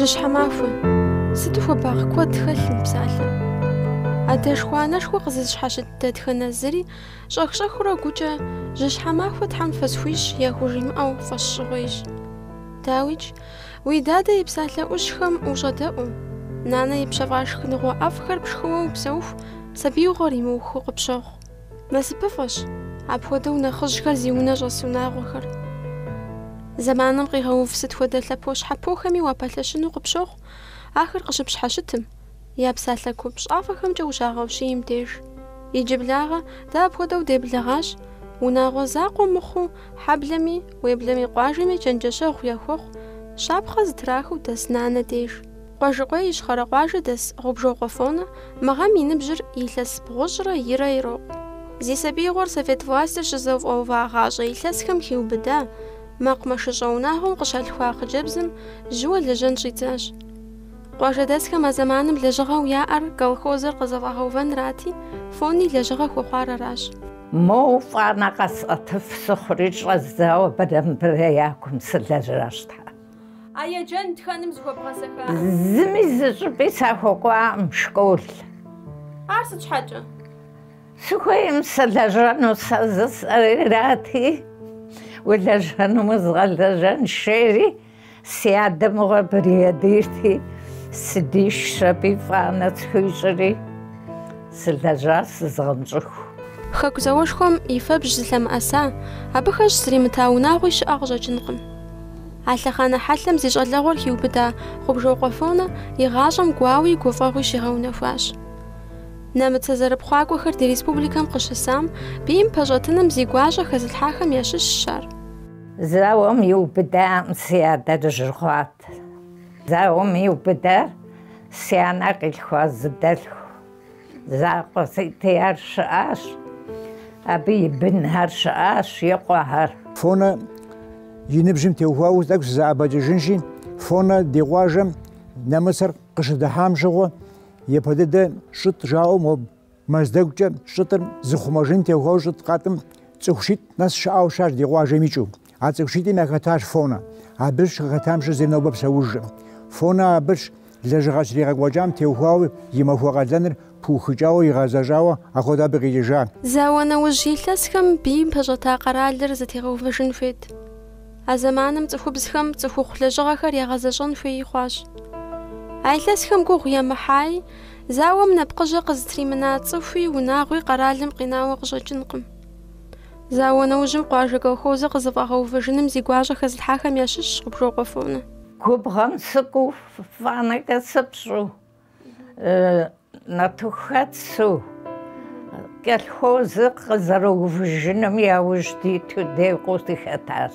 Жьыщхьэмахуэ. Сыту хуабагъ куэд хэлъ мы псалъэм. Адэшхуэ анэшхуэ къызыщхьэщыт дэтхэнэ зыри щӏэх-щӏэхыурэ гукӏэ Жьыщхьэмахуэ Тхьэм фысхуищӏ яхужимыӏэу фӏэщщӏыгъуейщ. Дауикӏ, уи дадэ и псалъэ ӏущхэм ущӏэдэӏуу, нанэ ипщэфӏа шхыныгъуэ ӏэфӏхэр пшхыуэ упсэуху, сабиигъуэр имыухыу къыпщохъу. Насыпыфӏэщ, апхуэдэу нэхъыжьхэр зи унэ щӏэс унагъуэхэр. Зэманым къигъэув сыт хуэдэ лъэпощхьэпохэми уапэлъэщыну къыпщохъу, ахэр къыщыпщхьэщытым, Я псалъэ купщӏафӏэхэмкӏэ ущагъэущиим деж. Иджыблагъэ, дэ апхуэдэу деблэгъащ, унагъуэ закъуэ мыхъуу, хьэблэми, уеблэмэ къуажэми чэнджэщэгъу яхуэхъу, щапхъэ зытрахыу дэс нанэ деж. Къуэжьыкъуей Ищхъэрэ къуажэ дэс Гъубжокъуэ Фонэ мы гъэм и ныбжьыр илъэс бгъущӏрэ ирэ ирокъу. Зи сабиигъуэр совет властыр щызэфӏэувагъащӏэ илъэсхэм хиубыда, мэкъумэшыщӏэ унагъуэм къыщалъхуа хъыджэбзым жьыуэ лэжьэн щӏидзащ. Къуажэдэсхэм а зэманым лэжьыгъэу яӏэр колхозыр къызэфӏэгъэувэнрати, Фони лэжьыгъэ хуэхъуар аращ. Моу фӏанэ къэсӏэтыф сыхъури щӏэздзауэ абрэ мыбрэ я кум сылэжьащ. А еджэн тхэным зыхуэбгъэсэххаӏым. Зыми зы щӏыпӏи сахуэкӏуаӏым школ. Ар сыт щхьэкӏэ? Сыхуейм сылэжьэну сэ жысӏэри, арати, улэжьэнум узгъэлэжьэнщ, жери. Си адэ мыгъуэ бригадирти, сыдишщ аби, фӏанэ схуищӏри, сылэжьащ зызгъэнщӏыху. Хэку зауэшхуэм и фэбжь зылъэмыӏэса, абы хэщӏ зримыта унагъуи щыӏэ къыщӏэкӏынкъым. А лъэхъанэ хьэлъэм зи щӏалэгъуэр хиубыда Гъубжокъуэ Фонэ и гъащӏэм гуауи гуфӏэгъуи щигъэунэхуащ. Нэмыцэ зэрыпхъуакӏуэхэр ди республикэм къыщысам, бийм пэщӏэтыным зи гуащӏэ хэзылъхьахэм ящыщщ ар. Зауэм иубыдам си адэр жьы хъуат. Зауэм иубыдар си анэ къилъхуа зы дэлъху закъуэ сиӏэти, ар щыӏащ, абы и бынхэр щыӏащ, и къуэхэр. Фонэ и ныбжьым теухуауэ тӏэкӏу сызэӏэбэкӏыжынщи, Фонэ ди къуажэм нэмыцэр къыщыдыхьам щыгъуэ, япэ дыдэ щӏытӏ жаӏэу моб. Мэздэгукӏэ щӏытӏыр зыхъумэжын теухуауэ щӏытӏ къатӏым цӏыху щитӏ нэс щыӏэу щытащ ди къуажэм икӏыу. А цӏыху щитӏым яхэтащ Фонэ. Абы щыхэтам щыщ зыри нобэ псэужкъым. Фонэ абыщ лэжьыгъэ щригъэкӏуэкӏам теухуауэ и махуэ къалэныр пыухыкӏауэ, игъэзэщӏауэ ахуэдэ абы къикӏыжа. Зауэ нэужь илъэсхэм бийм пэщӏэта къэралыр зэтегъэувэжын хуейт. А зэманым цӏыхубзхэм цӏыхухъу лэжьыгъэхэр ягъэзэщӏэн хуей хъуащ. А илъэсхэм гугъу емыхьаи, Зауэм нэпкъыжьэ къызытримына цӏыхуи, унагъуи къэралым къинауэ къыщӏэкӏынкъым. Зауэ нэужьым къуажэ колхозыр къызэфӏэгъэувэжыным зи гуащӏэ хэзылъхьахэм ящыщщ Гъубжокъуэ Фонэ. Губгъуэм сыкӏуу, фӏанэкӏэ сыпщӏу, нартыху хэтсу колхозыр къызэрыувыжыным яужь диту декъуу сыхэтащ.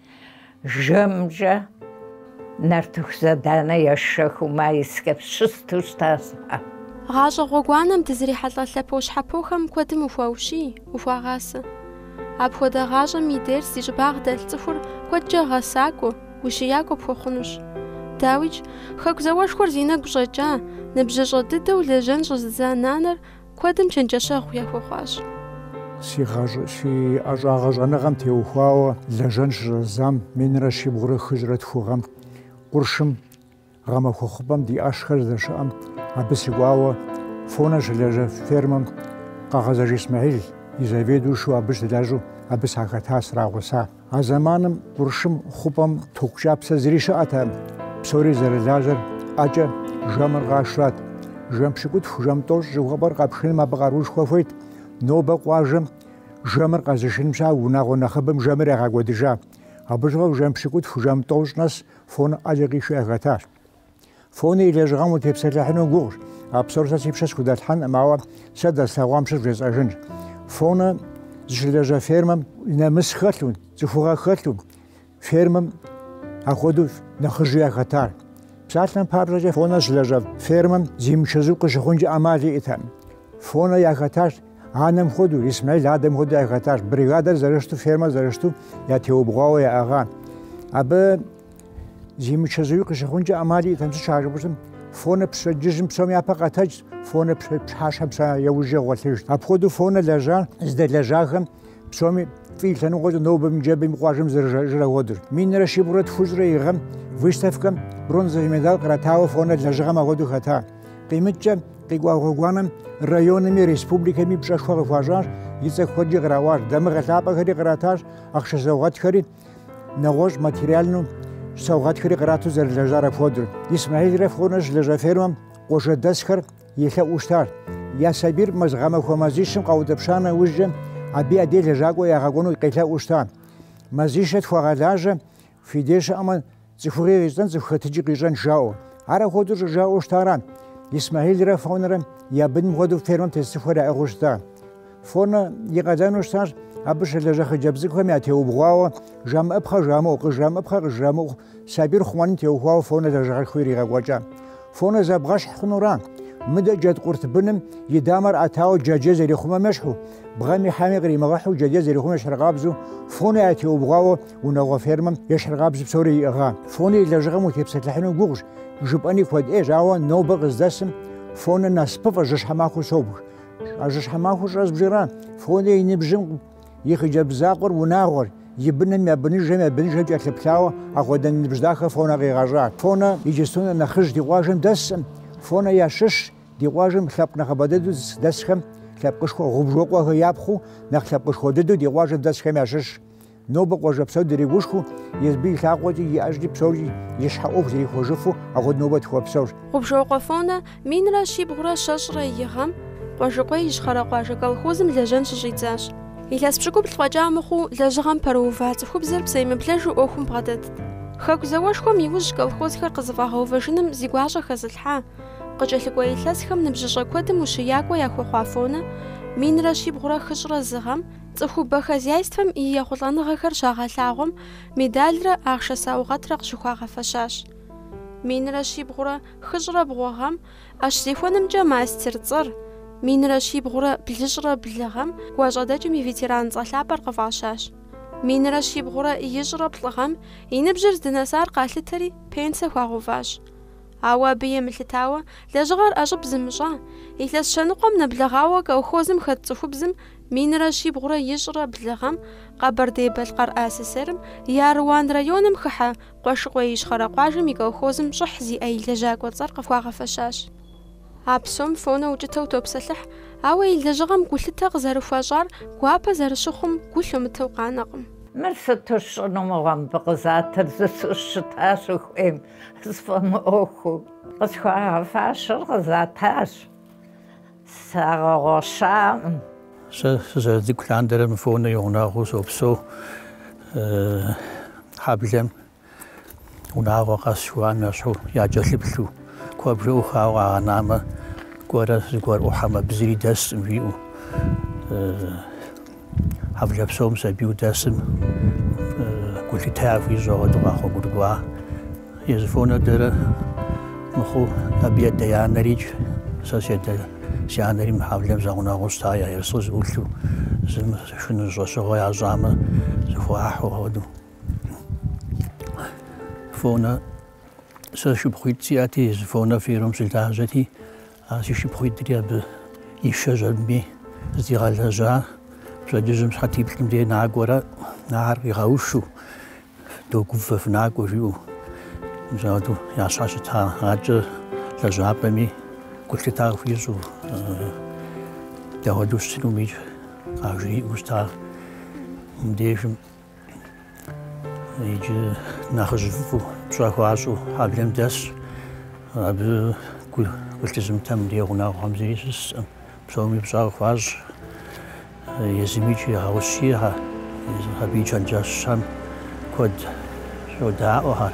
Жэмкӏэ нартыху заданэ есшэхыу Майскэм щысту щытащ сэ. Гъащӏэ гъуэгуанэм дызрихьэлӏэ лъэпощхьэпохэм куэдым ухуаущий, ухуагъасэ. Апхуэдэ гъащӏэм и дерс зи щӏыбагъ дэлъ цӏыхур куэдкӏэ гъэсакӏуэ, ущиякӏуэ пхуэхъунущ. Дауикӏ, Хэку зауэшхуэр зи нэгу щӏэкӏа, ныбжьыщӏэ дыдэу лэжьэн щӏэзыдза нанэр Куэдым чэнджэщэгъу яхуэхъуащ. Си ӏэщӏагъэ щӏэныгъэм теухуауэ лэжьэн щыщӏэздзам минрэ щибгъурэ хыщӏрэ тху гъэм, къуршым, гъэмахуэ хъупӏэм ди ӏэшхэр здэщыӏэм, абы сыкӏуауэ Фонэ щылэжьэ фермэм Къэгъэзэж Исмэхьил и заведующэу абы щылэжьу абы сахэта, срагъуса. А зэманым къуршым хъупӏэм току кӏапсэ зыри щыӏэтэкъым, псори зэрылажьэр ӏэкӏэ жэмыр къашрат. Жэм пщыкӏутху, жэм тӏощӏ жыхуэпӏэр къэпшыным абы къарушхуэ хуейт. Нобэ къуажэм жэмыр къэзышыным щхьа унагъуэ нэхъыбэм жэмыр ягъэкӏуэдыжа. Абы щыгъуэ жэм пщыкӏутху, жэм тӏощӏ нэс Фонэ ӏэкӏэ къишу яхэтащ. Фонэ и лэжьыгъэм утепсэлъыхьыну гугъущ. А псор сэ си пщэ схудэлъхьэнкъым, ауэ сэ дэслъэгъуам щыщ вжесӏэжынщ. Фонэ зыщылэжьэ фермэм нэмыс хэлъу, цӏыхугъэ хэлъу, фермэм апхуэдэу нэхъыжьу яхэтащ. Псалъэм папщӏэкӏэ Фонэ щылэжьэ фермэм зимычэзу къыщыхъункӏэ ӏэмал иӏэтэкъым. Фонэ яхэтащ анэм хуэдэу, Исмэил адэм хуэдэу яхэтащ. Бригадэр зэрыщту, фермэр зэрыщту ятеубгъуауэ яӏыгъа. Абы Зимычэзуи къыщыхъункӏэ ӏэмал иӏэтэкъым, сыт щхьа жыпӏэщтмэ, Фонэ пщэдджыжьым псом япэ къэтэджт, Фонэ пщыхьэщхьэм псом яужь гъуэлъыжт. Апхуэдэу Фонэ лэжьа здэлэжьахэм псоми фӏы лъэныкъуэкӏэ нобэми ныжэбэми къуажэм зэрыжаӏэр ахуэдэщ. Минрэ щибгъурэ тхущӏрэ и гъэм выставкэм бронзовый медаль къратауэ Фонэ лэжьыгъэм апхуэдэу хэта. Къимыкӏкӏэ, къикӏуа гъуэгуанэм районми республикэми пщӏэшхуэ къыхуащӏащ, и цӏэ куэдкӏи къраӏуащ, дамыгъэ лъапӏэхэри къратащ, ахъшэ саугъэтхэри нэгъуэщӏ материальнэу саугъэтхэри кърату зэрылэжьар апхуэдэу. Исмэхьилрэ Фонэ щылэжьа фермэм къуажэдэсхэр елъэӏуу щытар. Я сабийр мис гъэмахуэ мазищым къаутӏыпща нэужькӏэ, абы я деж лэжьакӏуэ ягъэкӏуэну къелъэӏуу щыта. Мазищэ тхуэгъэлажьэ, фи деж щыӏэмэ, Цӏыхугъи къищӏэн цӏыху хэтыкӏи къищӏэн жаӏэу. Ар апхуэдэу щӏыжаӏэу щытара. Исмэхьилрэ Фонэрэ я быным хуэдэу фермэм тес цӏыхухэр яӏыгъыу щыта. Фонэ и къалэну щытащ, абы щылажьэ хъыджэбз цӏыкӏухэм ятеубгъуауэ, жамыӏэпхъэ жамыӏэу, къыжрамыӏэпхъэ къыжрамыӏэу, сабийр хъумэным теухуауэ Фонэ лэжьыгъэшхуэ иригъэкӏуэкӏа. Фонэ зэбгъэщхь хъунура? Мыдэ джэдкъурт быным и дамэр ӏэтауэ джэджьей зэрихъумэм ещхьу, бгъэми хьэми къримыгъэхьу джэджьей зэрихъумэм ещхьыркъабзэу, фонэ ятеубгъуауэ унагъуэ фермэм ещхьыркъабзэу псори иӏыгъа? Фонэ и лэжьыгъэм утепсэлъыхьыну гугъущ, жыпӏэни куэд ӏейщ, ауэ нобэ къыздэсым фонэ насыпыфӏэ жьыщхьэмахуэу собж. А жьыщхьэмахуэр щӏэзбжыра? Фонэ и ныбжьым И хъыджэбз закъуэр унагъуэр, и бынэм я быныжэм я быныжэм кӏэлъыплъауэ апхуэдэ ныбжь дахэ Фонэ къигъэщӏа. Фонэ иджыпсту нэхъ нэхъыжь ди къуажэм дэскъым. Фонэ ящыщщ ди къуажэм лъэпкъ нэхъыбэ дыдэу дэсхэм, лъэпкъышхуэ Гъубжокъуэхэ япхъуу, нэхъ лъэпкъышхуэ дыдэу ди къуажэм дэсхэм ящыщщ. Нобэ къуажэ псор дригушхуэу, езыби и лъакъуэкӏи, и ӏэжькӏи псоркӏи и щхьэ ӏуэху зрихуэжыфу апхуэдэ нобэ тхуопсэу. Гъубжокъуэ Фонэ Минрэ щибгъурэ щэщӏрэ и гъэм Къуэжьыкъуей Ищхъэрэ къуажэ колхозым лэжьэн щыщӏидзащ. Илъэс пщыкӏубл фӏэкӏа мыхъуу лэжьыгъэм пэрыува цӏыхубзыр псэемыблэжу ӏуэхум бгъэдэтт. Хэку зауэшхуэм иужь колхозхэр къызэфӏэгъэувэжыным зи гуащӏэ хэзылъхьа, къыкӏэлъыкӏуэ илъэсхэм ныбжьыщӏэ куэдым ущиякӏуэ яхуэхъуа Фонэ, минрэ щибгъурэ хыщӏрэ зы гъэм, цӏыхубэ хозяйствэм и ехъулӏэныгъэхэр щагъэлъагъуэм медалрэ ахъшэ саугъэтрэ къыщыхуагъэфэщащ. Минрэ щибгъурэ Хыщӏрэ бгъуэ гъэм ӏэщ зехуэнымкӏэ мастер цӏэр, минрэ щибгъурэ блыщӏрэ блы гъэм гуащӏэдэкӏым и ветеран цӏэ лъапӏэр къыфӏащащ. Минрэ щибгъурэ ищӏрэ плӏы гъэм и ныбжьыр здынэсар къалъытэри, пенсэ хуагъэуващ. Ауэ абы емылъытауэ, лэжьыгъэр ӏэщӏыб зымыщӏа, илъэс щэныкъуэм нэблэгъауэ колхозым хэт цӏыхубзым минрэ щибгъурэ ищӏрэ блы гъэм Къэбэрдей-Балъкъэр АССР-м и Аруан районым хыхьэ Къуэжьыкъуей Ищхъэрэ къуажэм и колхозым щӏыхь зиӏэ и лэжьакӏуэ цӏэр къыхуагъэфэщащ. А псом фонэ укӏытэу топсэлъыхь, ауэ и лэжьыгъэм гулъытэ къызэрыхуащӏар гуапэ зэрыщыхъум гу лъумытэу къанэкъым. Мыр сыту сщӏыну мыгъуэ мыбы къызатыр жысӏэу щытащ ухуейм сфӏэмыӏуэхуу. Къысхуагъэфащэр къызатащ. Сагъэгъуэщакъым. Сэ сызэрыцӏыкӏу лъандэрэ мы Фонэ и гъунэгъуу сопсэу. Хьэблэм унагъуэ къэс жыхуаӏэм ещхьу якӏэлъыплъу, куэбжэ ӏухауэ къагъэнамэ, кӏуэрэ зыгуэр ӏухьэмэ абы зыри дэскъым, жиӏэу. Хьэблэ псом сабийуэ дэсым гулъытэ яхуищӏ хуэдэу къэгъуэгурыкӏуа. Езы Фонэ дэрэ мыхъуу абы едэ и анэрикӏ. Сэ седэ си анэри мы хьэблэм зэгъунэгъуу щыта я ерыскъы зыӏулъу, зым шхыну щӏэщыгъуэ ящӏамэ зыхуахьу хуэдэу. Фонэ сэ шыпхъуитӏ сиӏэти, езы Фонэ фермэм щылажьэти, А си шыпхъуитӏри абы ишэжьэри зыдигъэлэжьа пщэдджыжьым сыхьэтиплӏым дей накӏуэрэ, ахэр къигъэушу, докӏуэ, фэ фынакӏуэ жиӏэу. Мис апхуэдэу ящхьэщыта. Акӏэ лэжьапӏэми гулъытэ къыхуищӏу, дауэдэу щытынуми къажриӏэу щыта. Мыбдежым Иджы нэхъыжь фӏыфӏу пщӏэ хуащӏу хьэблэм дэсщ. Абы гу лъызымытэм ди гъунэгъухэм зыри щысӏым. Псоми пщӏэ къыхуащӏ. Езымикӏ егъэущий, абы и чэнджэщхэм куэд щӏодэӏухэр.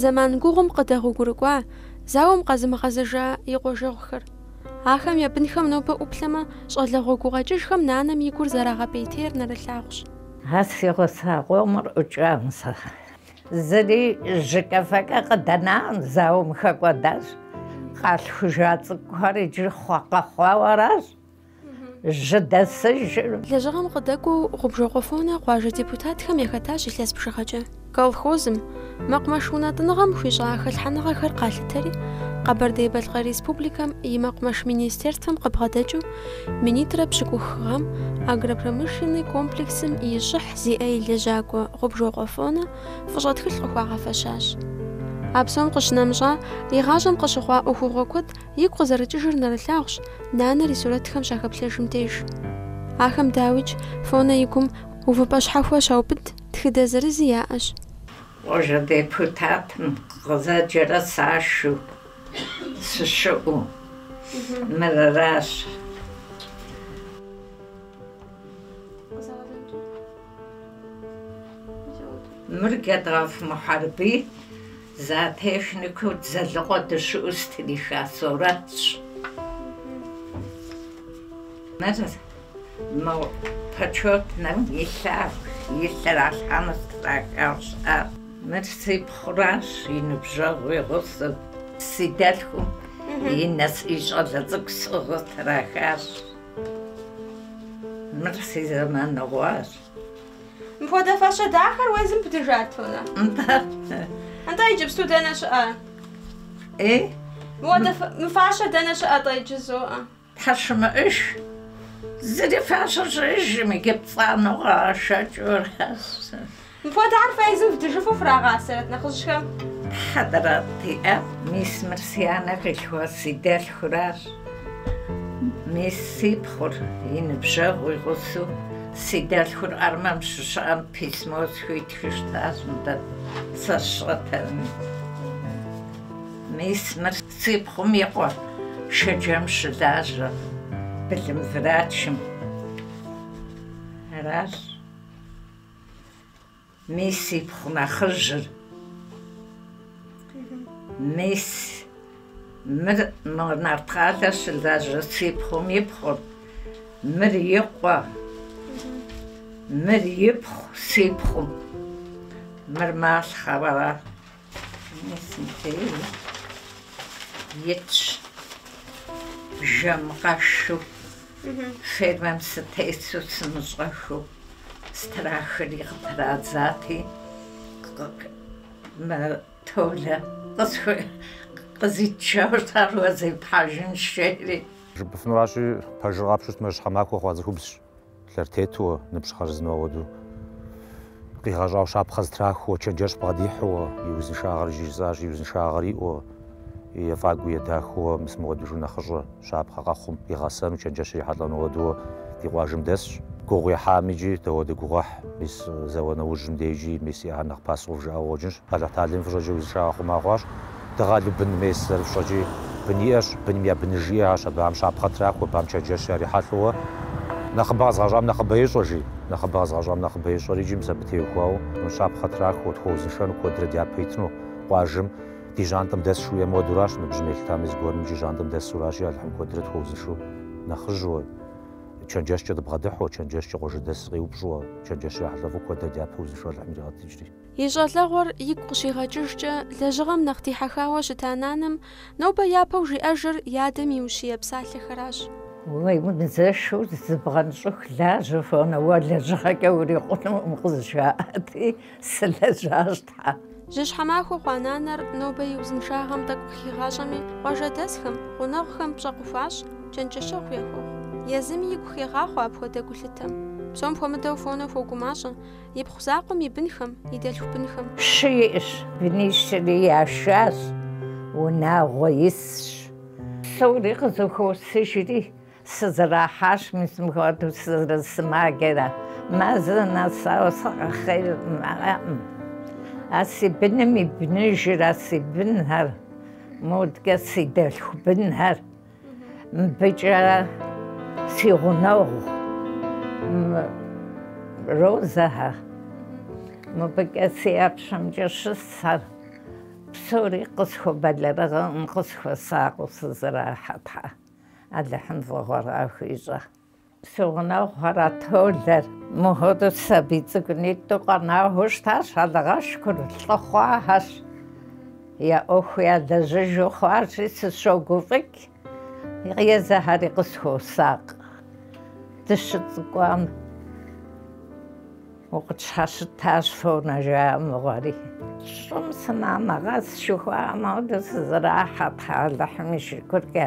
Зэман гугъум къыдэгъуэгурыкӏуа зауэм къэзымыгъэзэжа и къуажэгъухэр. Ахэм я бынхэм нобэ ӏуплъэмэ, щӏалэгъуэ гукъэкӏыжхэм нанэм и гур зэрагъэпӏейтейр нэрылъагъущ. А си гъуса къомыр ӏукӏам сэ. Зыри жьыкӏэфэкӏэ къыдэнакъым, зауэм хэкӏуэдащ. Къалъхужа цӏыкӏухэр иджы хъуа, къэхъуауэ аращ. жьы дэсыжыр. Лэжьыгъэм къыдэкӏуэу Гъубжокъуэ Фонэ къуажэ депутатхэм яхэтащ илъэс бжыгъэкӏэ. Колхозым, мэкъумэш унэтӏыныгъэм хуищӏа хэлъхьэныгъэхэр къалъытэри, Къэбэрдей-Балъкъэр Республикэм и Мэкъумэш министерствэм къыбгъэдэкӏыу минитӏрэ пщыкӏух гъэм агропромышленный комплексым и щӏыхь зиӏэ и лэжьакӏуэ Гъубжокъуэ Фонэ фӏыщӏэ тхылъ къыхуагъэфэщащ. А псом къыщынэмыщӏа, и гъащӏэм къыщыхъуа ӏуэхугъуэ куэд Игу къызэрыкӏыжыр нэрылъагъущ, нанэр и сурэтхэм щахэплъэжым деж. Ахэм дауикӏ, Фонэ и гум увыпӏэ щхьэхуэ щаубыд тхыдэ зырызи яӏэщ. Къуажэ депутатым къызэджэрэ сашэу сыщыӏэу мырыращ. Мыр Гедгъэф Мухьэрбий Зоотехникэу Дзэлыкъуэ дыщыӏэу стриха сурэтщ. Мыр мы почетнэм илъагъу, илъ иралъхьэну страхаращ. Мыр си пхъуращ, и ныбжьэгъу игъусэу. Си дэлъхум и нысэ и щӏалэ цӏыкӏу сӏыгъыу трахащ. Мыр си зэманыгъуащ. Мыпхуэдэ фащэ дахэр уэ езым бдыжат, Фонэ? Нтӏэ. Нтӏэ иджыпсту дэнэ щыӏэ? Э? Мыуэдэ мы фащэ дэнэ щыӏэ тӏэ иджызу? Тхьэ, щымыӏэж. Зыри фащэ щыӏэжым иджы пцӏанэу къагъэшэкӏыу аращ. Мыпхуэдэ ар фэ езым вдыжыфу фрагъасэрэт нэхъыжьхэм? Тхьэдэрат, иӏэт, мис мыр си анэ къилъхуа си дэлъхуращ. Мис си пхъур, и ныбжьэгъу игъусэу, си дэлъхур армэм щыщыӏэм письмо схуитхыу щытащ нтӏэ, сэ сщӏэтэми. Мис мыр си пхъум и къуэ Шэджэм щылажьэ былым врачым. Аращ. Мис си пхъу нэхъыжьыр, мис мыр Нарткъалэ щылажьэ си пхъум ипхъур, мыр и къуэ, мыр ипхъу си пхъум, мыр малъхъэ ара, Итщ жэм къэшу, фермэм сытесу сымыщӏэхыу, сытрахри къытрадзати, Толэ къызитыжаурат ар уэ зепхьэжынщ жери. Жыпӏэфынуращи, пэжыр къапщтэу щытмэ, щхьэмахуэ хъуа цӏыхубзщ. Лъэр тетуэ, ныбжь хъарзынэу ауэду къигъэщӏау щапхъэ зытрахуэ, чэнджэщ бгъэдихьуэ, и узыншагъэр жыжысӏащ, и узыншагъэр иӏуэ, ефӏагуи едахэуэ, мис мыуэдэжу нэхъыщӏэ, щапхъэ къэхъум игъэсэну, чэнджэщ ирихьэлӏэну ауэдууэ ди къуажэм дэсщ. Гугъу ехьам иджы дауэдэ гугъуехь, мис зауэ нэужьым дежи, мис и ӏэр нэхъ пасэу жыӏауэ къыщӏэкӏынщ. Алыхьталэм и фӏыщӏэкӏэ узыншагъэ хъума хъуащ. Дыгъэлу бын мес зэрыфщӏэкӏи, бын иӏэщ, быным я быныж иӏэщ, абыхэм щапхъэ трахуэ, абыхэм чэнджэщ ярихьэлӏэуэ. Нэхъыбэ къэзыгъэщӏам нэхъыбэ ещӏэ, жи. Нэхъыбэ къэзыгъэщӏам нэхъыбэ ещӏэр иджи мис абы теухуауэ, мыр щапхъэ трахуэ, тхуэузыншэну, куэдрэ дяпэ итыну, къуажэм, ди жьантӏэм дэсщ жиӏэ модуращ, ныбжьым елъытамэ, зыгуэрым иджи жьантӏэм дэсуращи, Алыхьым куэдрэ тхуэузыншу, нэхъыжьуэ, чэнджэщкӏэ дыбгъэдыхьуэ, чэнджэщкӏэ къуажэдэс къеупщӏуэ, чэнджэщ ярихьэлӏэфу куэдрэ дяпэ узыншу Алыхьым иригъэтыкӏри. И щӏалэгъуэр игу къыщигъэкӏыжкӏэ, лэжьыгъэм нэхъ дихьэхауэ щыта нанэм нобэ япэу жиӏэжыр и адэм и ущие псалъэхэращ. Уемызэшу зыбгъэнщӏыху лажьэ, Фонэ, уэ лэжьыгъэкӏэ урикъунукъым къызжаӏати, сылэжьащ, Тхьэ. Жьыщхьэ махуэ хъуа нанэр нобэ и узыншагъэм тӏэкӏу хигъащӏэми, къуажэдэсхэм, гъунэгъухэм пщӏэ къыхуащӏ, чэнджэщэгъу яхуохъу. Езыми игу хегъахъуэ апхуэдэ гулъытэм. Псом хуэмыдэу Фонэ хуогумащӏэ. Ипхъу закъуэм и бынхэм, и дэлъху бынхэм. Щы иӏэщ, бынищри яшащ, унагъуэ исщ. Псори къызэхуосыжри, сызэрахьащ мис мыпхуэдэу сызэрысымаджэрэ. Мазэ нэсауэ сыкъыхъеӏым. А си быным и быныжыр, а си бынхэр, модкӏэ си дэлъху бынхэр. Мыбыкӏэ си гъунэгъу Розэхэ, мыбыкӏэ си ӏэпщэмкӏэ щысхэр псори къысхуэбэлэрыгъӏым, къысхуэсакъыу сызэрахьэ Тхьэ Алыхьым фӏыгъуэ къахуищӏэ. Си гъунэгъухэр, а Толэр, мыпхуэдэу сабий цӏыкӏунитӏу къэнауэ щытащ, Алыхь шыкур, лӏы хъуахэщ, я ӏуэху ялэжьыжу хъуащи, сыщогуфӏыкӏ езыхэри къысхуосакъ. Дыщыцӏыкӏуам укъытщхьэщытащ Фонэ жаӏэ мыгъуэри. Щӏым сынамыгъэс жыхуаӏэм хуэдэу сызэрахьэ, Тхьэ Алыхьым и шыкуркӏэ.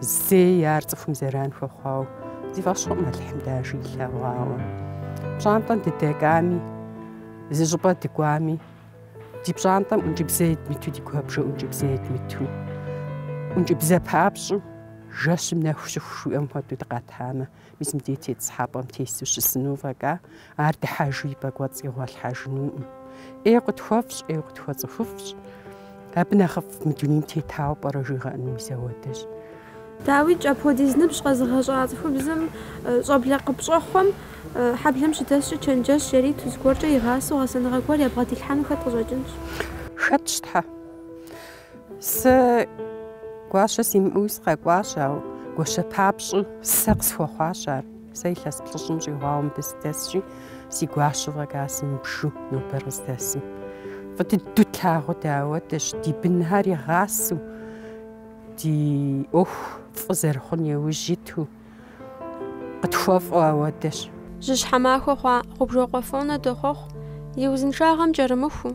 Зэи ар цӏыхум зэран хуэхъуауэ си фӏэщ хъуӏым Алыхьым дажи илъэгъуауэ. Пщӏантӏэм дыдэкӏами, зы щӏыпӏэ дыкӏуами, ди пщӏантӏэм ӏункӏыбзэ едмыту, ди куэбжэ ӏункӏыбзэ едмыту, ӏункӏыбзэ папщӏу жэщым нэху щыху жиӏэм хуэдэу дыкъэтамэ, Мис мыдей тетӏысхьэпӏэм тесу щысыну фӏэкӏа, ар дыхьэжу и пӏэкӏуэцӏ игъуэлъхьэжынуӏым. ӏейуэ къытхуэфӏщ, ӏейуэ къытхуэцӏыхуфӏщ. Абы нэхъыфӏ мы дунейм тетауэ пӏэрэ жыуигъэӏэну мис ауэдэщ. Дауикӏ, апхуэдиз ныбжь къэзыгъэщӏа цӏыхубзым щӏэблэ къыпщӏэхъуэм, хьэблэм щыдэскӏэ чэнджэщ яриту, зыгуэркӏэ игъасэу гъэсэныгъэ гуэр ябгъэдилъхьэну хэт къыщӏэкӏынщ? Хэтщ, Тхьэ! Сэ гуащэ симыӏэуи сыкъэкӏуащ, ауэ гуащэ папщӏэу сэ къысхуэхъуащ ар. Сэ илъэс плӏыщӏым щӏигъуауэ мыбы сыдэсщи, си гуащэу фӏэкӏа сымыбжу нобэр къыздэсым. Фӏы дыдэу тлъагъуу дэ ауэдэщ, ди бынхэр игъасэу, ди ӏуэху фӏы зэрыхъун иужь иту къытхуэфӏу ауэдэщ. Жьыщхьэ махуэ хъуа Гъубжокъуэ Фонэ дохъуэхъу, и узыншагъэм кӏэрымыхуу.